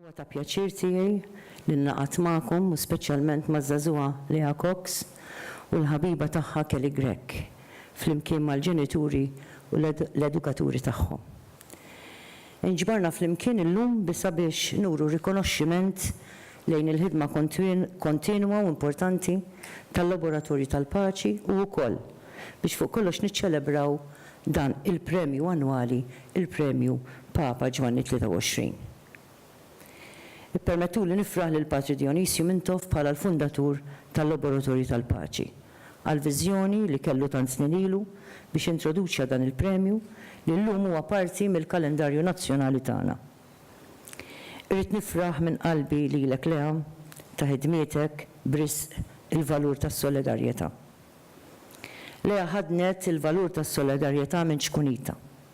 Huwa ta' pjaċir tiegħi li nlaqgħat magħkom u speċjalment maż-żagħżugħa Leah Cox u l-ħabiba tagħha Kelly Grech, flimkien mal-ġenituri u l-edukaturi tagħhom. Inġbarna flimkien illum bi sabiex nuru rikonoxximent lejn il-ħidma kontinwa u importanti tal-Laboratorju tal-Paċi u wkoll biex fuq kollox niċċelebraw dan il-premju annwali, il-Premju Papa Ġwanni 23. Ippermettuli nifraħ lil Patri Dionizju Mintoff bħala l-fundatur tal-Laboratorju tal-Paċi, għall-viżjoni li kellu tant snin ilu biex introduċa dan il-premju li llum huwa parti mill-kalendarju nazzjonali tagħna. Irrid nifraħ minn qalbi lilek Lea ta' ħidmietek b'risq il-valur tas-solidarjetà. Lea ħaddnet il-valur tas-solidarjetà minn ċkunitha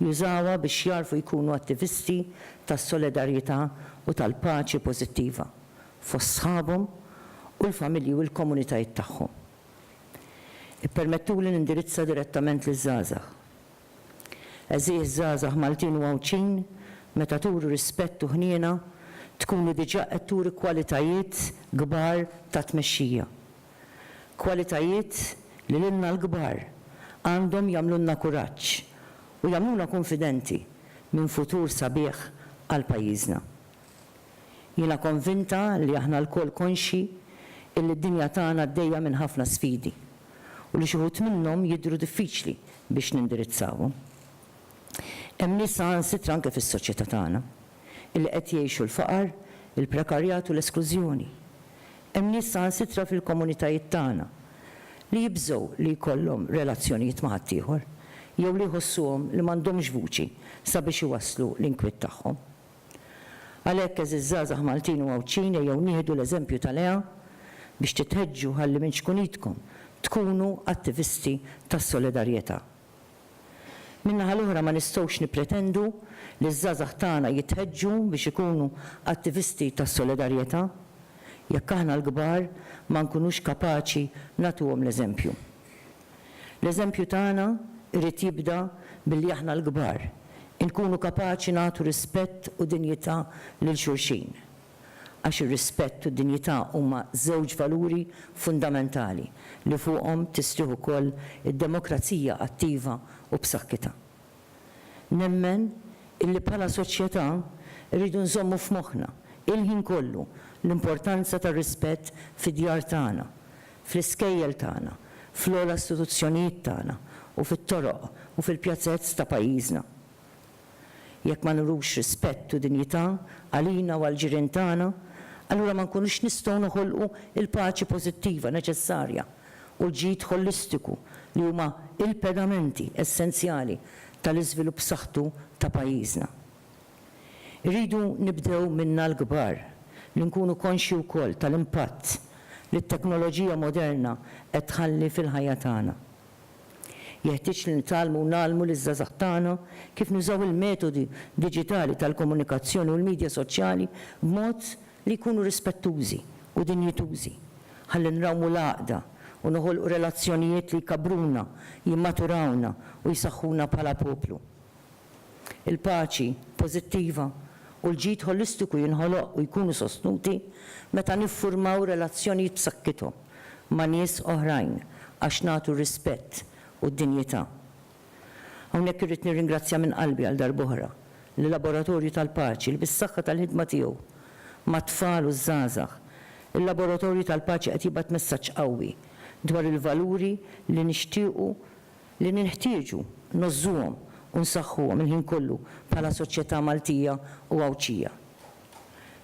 jużawha biex jagħrfu jkunu attivisti tas-solidarjità u tal-paċi pożittiva fost sħabhom u l-familji u l-komunitajiet tagħhom. Ippermettuli nindirizza direttament liż-żgħażagħ. Għeżież żgħażagħ Maltin u Għawdxin, meta turu rispett u ħniena, tkunu diġà qed turi kwalitajiet kbar ta' tmexxija. Kwalitajiet li lilna l-kbar għandhom jagħmlulna kuraġġ u jagħmluna kunfidenti minn futur sabiħ għal pajjiżna. Jiena konvinta li aħna lkoll konxji illi d-dinja tagħna għaddejja minn ħafna sfidi u li xi wħud minnhom jidhru diffiċli biex nindirizzawhom. Hemm nies saħansitra anke fis-soċjetà tagħna li qed jgħixu l-faqar, il-prekarjat u l-esklużjoni. Hemm nies saħansitra fil-komunitajiet tagħna li jibżgħu li jkollhom relazzjonijiet ma' ħaddieħor jew li jħossuhom li m'għandhomx vuċi sabiex iwasslu l-inkwiet tagħhom. Għalhekk, għeżież żgħażagħ Maltin u Għawdxin ejjew nieħdu l-eżempju ta' Lea biex titħeġġu ħalli minn xkunitkom tkunu attivisti tas-solidarjetà. Min-naħa l-oħra ma nistgħux nippretendu li ż-żgħażagħ tagħna jitħeġġu biex ikunu attivisti tas-solidarjetà jekk aħna l-kbar ma nkunux kapaċi nagħtuhom l-eżempju. L-eżempju tagħna jrid jibda billi aħna l-kbar inkunu kapaċi nagħtu rispett u dinjità lil xulxin. għax ir-rispett u d-dinjità huma żewġ valuri fundamentali li fuqhom tistrieħ ukoll id-demokrazija attiva u b'saħħitha. Nemmen illi bħala soċjetà rridu nżommu f'moħħna il-ħin kollu l-importanza tar-rispett fid-djar tagħna, fl-iskejjel tagħna, fl-ogħla istituzzjonijiet tagħna u fit-toroq u fil-pjazez ta' pajjiżna. Jekk ma nurux rispett u dinjità għalina u għall-ġirien tagħna, allura ma nkunux nistgħu noħolqu l-paċi pożittiva neċessarja u l-ġid ħolistiku li huma l-pedamenti essenzjali tal-iżvilupp b'saħħtu ta' pajjiżna. Irridu nibdew minna l-kbar li nkunu konxji wkoll tal-impatt li t-teknoloġija moderna qed tħalli fil-ħajja tagħna. Jeħtieġ li nitgħallmu u ngħallmu liż-żgħażagħ tagħna kif nużaw il-metodi diġitali tal-komunikazzjoni u l-midja soċjali b'mod li jkunu rispettużi u dinjitużi, ħalli nrawmu l-għaqda u noħolqu relazzjonijiet li jkabbruna, jimmaturawna u jsaħħuna bħala poplu. Il-paċi pożittiva u l-ġid ħolistiku jinħoloq u jkunu sostnuti meta niffurmaw relazzjonijiet b'sakkithom ma' nies oħrajn għax nagħtu r-rispett u d-dinjità. Hawnhekk irrid nirringrazzja minn qalbi għal darb'oħra l-Laboratorju tal-Paċi li bis-saħħa tal-ħidma tiegħu mat-tfal u ż-żgħażagħ, il-Laboratorju tal-Paċi qed jibgħat messaġġ qawwi dwar il-valuri li nixtiequ li ninħtieġu ngħożżuhom u nsaħħuhom il-ħin kollu bħala soċjetà Maltija u Għawdxija.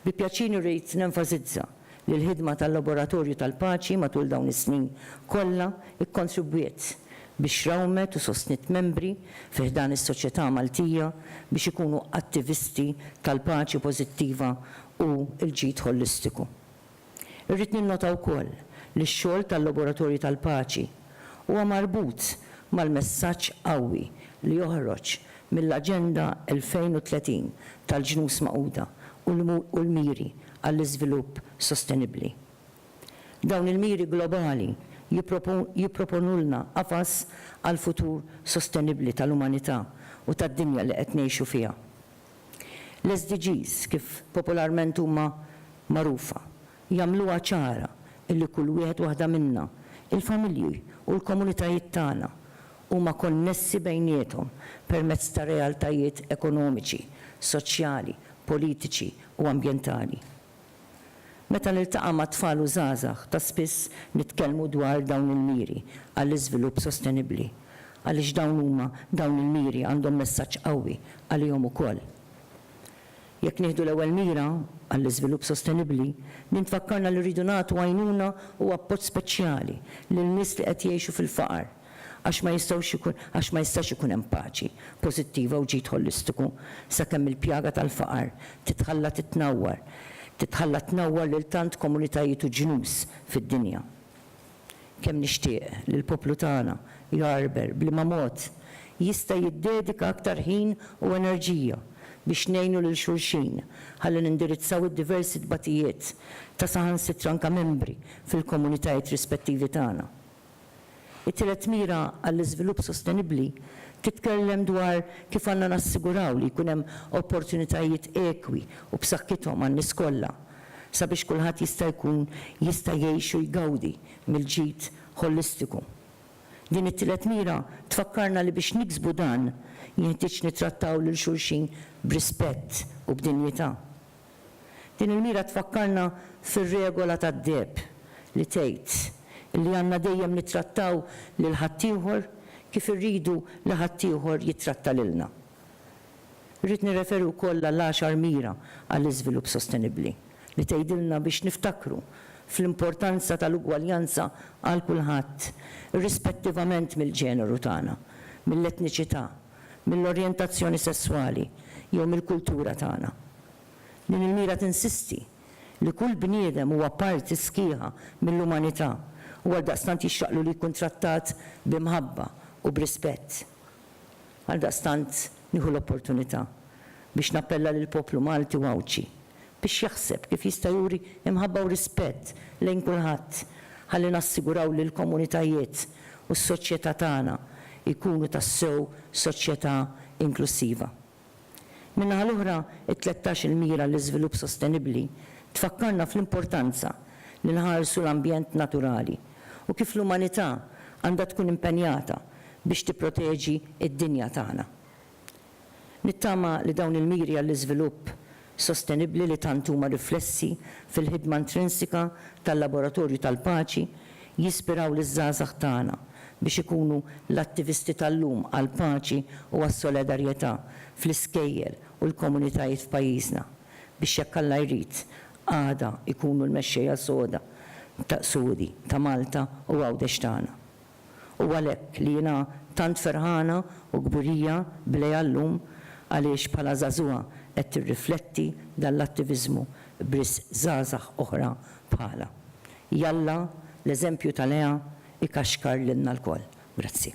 Bi pjaċir irrid nenfasizza li l-ħidma tal-Laboratorju tal-Paċi matul dawn is-snin kollha kkontribwiet biex rawmet u sostniet membri fi ħdan is-soċjetà Maltija biex ikunu attivisti tal-paċi pożittiva u l-ġid ħolistiku. Irrid ninnota wkoll li x-xogħol tal-Laboratorju tal-Paċi huwa marbut mal-messaġġ qawwi li joħroġ mill-Aġenda 2030 tal-Ġnus Magħquda u l-Miri għall-Iżvilupp Sostenibbli. Dawn il-miri globali jipproponulna qafas għal futur sostenibbli tal-umanità u tad-dinja li qed ngħixu fiha. L-SDGs, kif popolarment huma magħrufa, jagħmluha ċara li kull wieħed waħda minna, il-familji u l-komunitajiet tagħna, huma konnessi bejniethom permezz ta' realtajiet ekonomiċi, soċjali, politiċi u ambjentali. Meta niltaqa' ma' tfal u żgħażagħ, ta' spiss nitkellmu dwar dawn il-miri għall-iżvilupp sostenibbli, għaliex dawn huma dawn il-miri għandhom messaġġ qawwi għalihom ukoll. Jekk nieħdu l-ewwel mira, għall-iżvilupp sostenibbli, din tfakkarna li rridu nagħtu għajnuna u appoġġ speċjali lil nies li qed jgħixu fil-faqar. għax ma jistgħux ikun, għax ma jistax ikun hemm paċi pożittiva u ġid ħolistiku sakemm il-pjaga tal-faqar titħalla titnawwar, titħalla tnawwar lil tant komunitajiet u ġnus fid-dinja. Kemm nixtieq li l-poplu tagħna jgħarrber b'liema mod jista' jiddedika aktar ħin u enerġija biex ngħinu lil xulxin ħalli nindirizzaw id-diversi tbatijiet ta' saħansitra anke membri fil-komunitajiet rispettivi tagħna. It-tielet mira għall-iżvilupp sostenibbli titkellem dwar kif għandna nassiguraw li jkun hemm opportunitajiet ekwi u b'saħħithom għan-nies kollha sabiex kulħadd jista' jkun jista' jgħix u jgawdi mill-ġid ħolistiku. Din it-tielet mira tfakkarna li biex niksbu dan, jinħtieġ nittrattaw lil xulxin b'rispett u b'dinjità. Din il-mira tfakkarna fir-regola tad-deheb li tgħid li għandna dejjem nittrattaw lil ħaddieħor kif irridu li ħaddieħor jittratta lilna. Irrid nirreferi wkoll għall-għaxar mira għall-iżvilupp sostenibbli li tgħidilna biex niftakru fl-importanza tal-ugwaljanza għal kulħadd irrispettivament mill-ġeneru tagħna, mill-etniċità, mill-orjentazzjoni sesswali jew mill-kultura tagħna. Din il-mira tinsisti li kull bniedem huwa parti sħiħa mill-umanità u għaldaqstant jixraqlu li jkun trattat b'imħabba u b'rispett. Għaldaqstant nieħu l-opportunità biex nappella lill-poplu Malti u Għawdxi biex jaħseb kif jista' juri imħabba u rispett lejn kulħadd ħalli nassiguraw li l-komunitajiet u s-soċjetà tagħna jkunu tassew soċjetà inklussiva. Min-naħa l-oħra, it-tlettax il-Mira għall-Iżvilupp Sostenibbli tfakkarna fl-importanza li nħarsu l-ambjent naturali u kif l-umanità għandha tkun impenjata biex tipproteġi d-dinja tagħna. Nittama li dawn il-miri għall-iżvilupp sostenibbli li tant huma riflessi fil-ħidma intrinsika tal-Laboratorju tal-Paċi jispiraw liż-żgħażagħ tagħna biex ikunu l-attivisti tal-lum għall-paċi u għas-solidarjetà fl-iskejjel u l-komunitajiet f'pajjiżna biex jekk Alla jrid għada jkunu l-mexxejja soda Sgħudi ta' Malta u Għawdex tagħna. U għalhekk li jiena tant ferħana u kburija b'Leah llum għaliex bħala żagħżugħa qed tirrifletti dan l-attiviżmu b'risq żgħażagħ oħra bħalha. Jalla l-eżempju ta' Leah ikaxkar lilna lkoll. Grazzi.